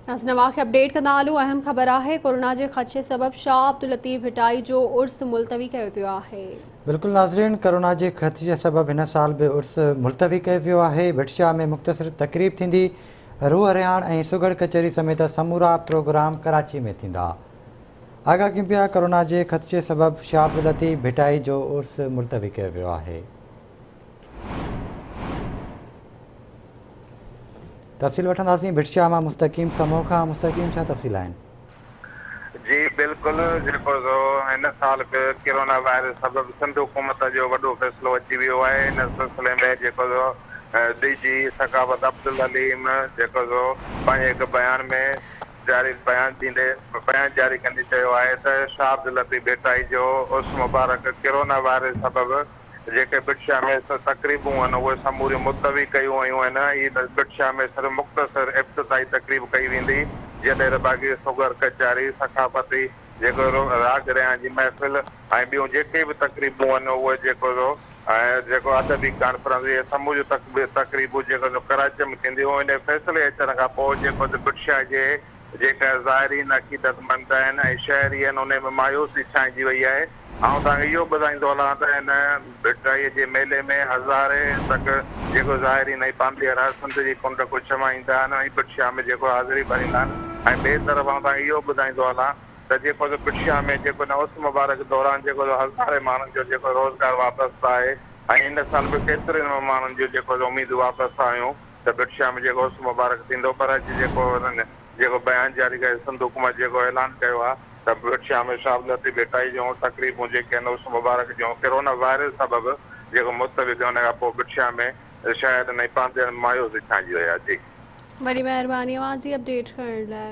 ناز نواز کي اپڊيٽ ڪندا هلون اهم خبر آهي ڪورونا جي خدشي سبب شاهه عبداللطيف ڀٽائي جو عرس ملتوي ڪيو پيو آهي بلڪل ناظرين ڪورونا جي خدشي سبب هن سال به عرس ملتوي ڪيو پيو آهي ڀٽ شاهه ۾ مختصر تقريب ٿيندي روح رهاڻ ۽ سگهڙ ڪچهري سميت سمورا پروگرام ڪراچي ۾ ٿيندا آگاهه ڪيون پيا ڪورونا جي خدشي سبب شاهه عبداللطيف ڀٽائي جو عرس ملتوي ڪيو ويو آهي تفصيل وٺنداسين ڀٽ شاهه مان مستقيم سمو کان مستقيم ڇا تفصيل آهن؟ جي بلڪل جيڪو سو هن سال به ڪرونا وائرس سبب سنڌ حڪومت جو وڏو فيصلو اچي ويو آهي ان سلسلي ۾ جيڪو سو ڊي جي ثقافت عبدالحليم جيڪو سو پنهنجي هڪ بيان ۾ جاري بيان ڏيندي بيان جاري ڪندي چيو آهي ته شاهه عبداللطيف ڀٽائي جو عرس مبارڪ ڪرونا وائرس سبب جيڪي بٽشاهه ۾ سر تقريبون هن اهي سموريون ملتوي ڪيون ويون آهن ۽ هي بٽشاهه ۾ صرف مختصر ابتدائي تقريب ڪئي ويندي جڏهن رباڪي سوگهر ڪچاري ثقافتي جيڪو راڳ ريان جي محفل ۽ ٻيون جيڪي به تقريبون هن اهي جيڪو جو جيڪو ادبي ڪانفرنس اهي سموريون تقريبون جيڪو جو ڪراچيء ۾ ٿينديون هن فيصلي اچڻ کان پوء جيڪو جو بٽشاهه جي جيڪا زائرين عقيدتمند آهن ۽ شهري آهن انهي ۾ مايوسي ڇائنجي وئي آهي. آئون توهان کي اهو ٻڌائيندو هلان ته هن ڀٽرائيء جي ميلي ۾ هزارين تڪ جيڪو زائرين ۽ پانڌيئر سنڌ جي ڪنڊ کي ڇوائيندا آهن ۽ پٽشاهه ۾ جيڪو حاضري ڀريندا آهن ۽ ٻئي طرف آئون توهان کي اهو ٻڌائيندو هلان ته جيڪو سو پٽشاهه ۾ جيڪو هن عرس مبارڪ دوران جيڪو سو هزارين ماڻهن جو جيڪو روزگار وابسته آهي ۽ ان سال به ڪيترين ماڻهن جون جيڪو سو اميدون وابسته هيون. ته بٽ شام جيڪو اس مبارڪ ٿيندو پر اڄ جيڪو انهن جيڪو بيان جاري ڪيو سنڌ حڪومت جيڪو اعلان ڪيو آهي ته بٽ شام ۾ شابلتي ڀيٽائي جون تقريبون جيڪي آهن اس مبارڪ جون ڪرونا وائرس سبب جيڪو مستوي ٿيون ان کان پوء بٽ شام ۾ شاعرن ۽ پانڌيئڙن مايوس به ڇانئجي ويا جي. وڏي مهرباني اوهان جي اپڊيٽ ڪرڻ لاء.